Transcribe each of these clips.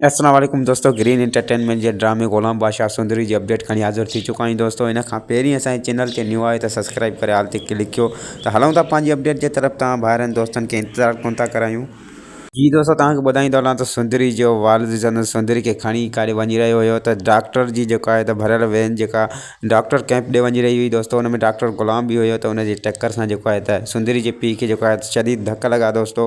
اسلام عليڪم دوستو گرين انٽرٽينمينٽ جي ڊرامي غلام بادشاهه سندري جي اپڊيٽ کڻي حاضر ٿي چڪا آهيون دوستو ان کان پهرين اسان جي چينل تي نيو آهي ته سبسڪرائب ڪري آل تي ڪلڪ ڪيو ته هلون ٿا پنهنجي اپڊيٽ جي طرف توهان ڀائرن دوستن کي انتظار ڪونه ٿا ڪرايون جي دوستو توهان کي ٻڌائيندو هلان ته سندري جو والد سندن سندري کي کڻي ڪاڏي وڃي رهيو هيو ته ڊاڪٽر جي جيڪا آهي ته ڀريل وين جيڪا ڊاڪٽر ڪيمپ ڏي وڃي رهي هئي دوستو ان ۾ ڊاڪٽر غلام به هيو ته ان جي ٽڪر سان جيڪو آهي ته سندري جي پيء کي جيڪو آهي شديد ڌڪ لڳا دوستو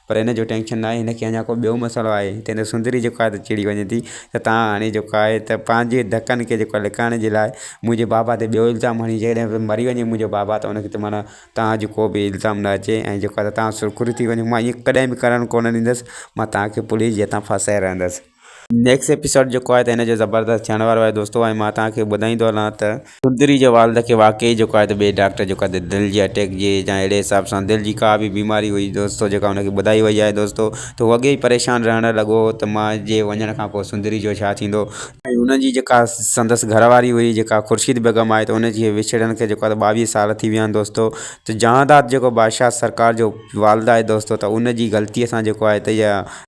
پر هن جو ٽينشن ناهي هن کي اڃا ڪو ٻيو مسئلو آهي تنهن ته سندري جيڪو آهي ته چڙي وڃي ٿي ته تان هاڻي جيڪو آهي ته پنهنجي ڌڪن کي جيڪو لڪائڻ جي لاء منهنجي بابا تي ٻيو الزام هڻي جيڪڏهن به مري وڃي منهنجو بابا ته هن کي ته معنيٰ تان جو ڪو به الزام نه اچي ۽ جيڪو آهي ته تان سرخرو ٿي وڃو مان ائين ڪڏهن به ڪرڻ ڪونه ڏيندس مان تان کي پوليس جي هٿان ڦاسائي رهندس نيڪسٽ ايپيسوڊ جيڪو آهي ته هن جو زبردست ٿيڻ وارو آهي دوستو ۽ مان توهان کي ٻڌائيندو هلان ته سندري جي والد کي واقعي جيڪو آهي ته ٻئي ڊاڪٽر جيڪو آهي ته دل جي اٽيڪ جي يا اهڙي حساب سان دل جي ڪا به بيماري هئي دوستو جيڪا هن کي ٻڌائي وئي آهي دوستو ته هو اڳي ئي پريشان رهڻ لڳو هو ته مان جي وڃڻ کان پوء سندري جو ڇا ٿيندو ۽ هن جي جيڪا سندس گهر واري هئي جيڪا خورشيد بيگم آهي ته ان جي وڇڙڻ کي جيڪو آهي ته ٻاويهه سال ٿي ويا آهن دوستو ته جهانداد جيڪو بادشاهه سرڪار جو والد آهي دوستو ته ان جي غلطي سان جيڪو آهي ته اها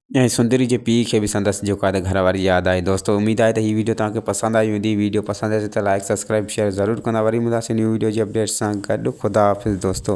۽ سندري جي پيء کي به سندس جيڪو آهي گهر واري ياد آئي دوستو اميد آهي ته هي ويڊيو توهان کي پسند آئي هوندي ويڊيو پسند آئي ته لائڪ سبسڪرائب شيئر ضرور ڪندا وري ملنداسين نيو ويڊيو جي اپڊيٽس سان گڏ خدا حافظ دوستو